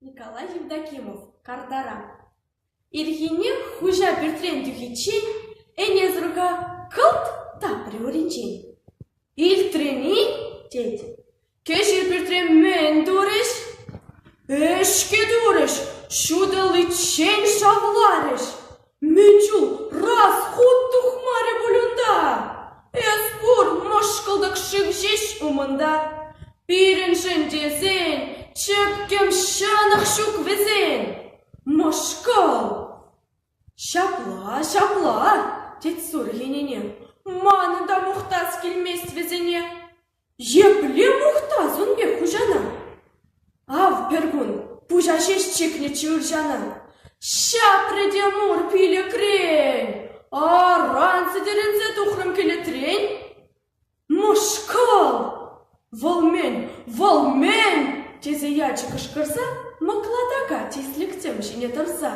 Николай Евдокимов картара. Ирхине хуҫа пӳртрен тухиччен Энесрука кӑлт тапрӗ уринчен. Илтрӗн-и? тет. Кӗҫӗр пӳртре мӗн турӗҫ? Ӗҫке турӗҫ, ҫутӑличчен шавларӗҫ. Мӗн чул расхут тухмарӗ пуль унта? Эс пур мӑшкӑлтӑк шыв ҫеҫ умӑнта. Пирӗншӗн тесен чӗпкӗм ҫанах ҫук вӗсен. Мӑшкӑл! Ҫапла, ҫапла, тет сур хӗнене. Манӑн та мухтас килмест вӗсене. Епле мухтас ун пек хуҫана? Ав пӗркун пуҫа ҫеҫ чикнӗччӗ ырҫана. Ҫапрӗ те мур пилӗкрен. Аран сӗтӗрӗнсе тухрӑм кӗлетрен. Мӑшкӑл! Вӑл мӗн, вӑл мӗн? тесе ячӗ кӑшкӑрса мӑклатака тислӗксем ҫине тӑрса.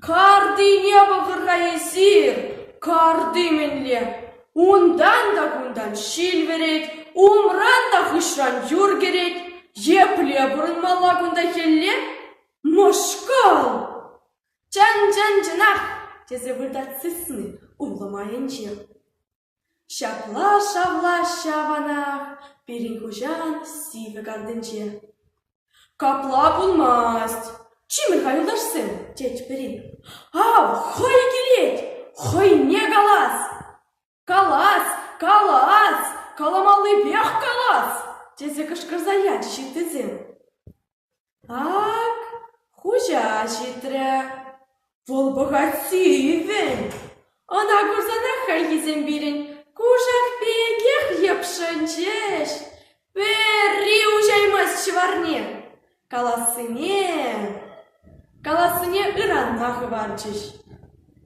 Картине пӑхӑр-ха эсир, карти мӗнле, унтан та кунтан ҫил вӗрет, умран та хыҫран юр кӗрет. Епле пурӑнмалла кунта хӗлле? Мӑшкӑл! Чӑн-чӑн чӑнах! тесе выртать сысни урлӑ майӗнче. Ҫапла шавлаҫҫӗ аванах пирӗн хуҫан сивӗ кантӗнче. «Капла пулмасть, чимӗр-ха, юлташсем!» тет пӗри. «Ав, хӑй килет, хӑйне калас! Калас, калас, каламаллипех калас!» тесе кӑшкӑрса ячӗҫ ыттисем. Ак, хуҫа ҫитрӗ, вӑл пӑхать сивӗ. Ӑна курсанах хальхисем пирӗн кушак пекех йӑпшӑнчӗҫ. Пӗри уҫаймасть ҫӑварне, калассине... калассине ыранма хӑварчӗҫ.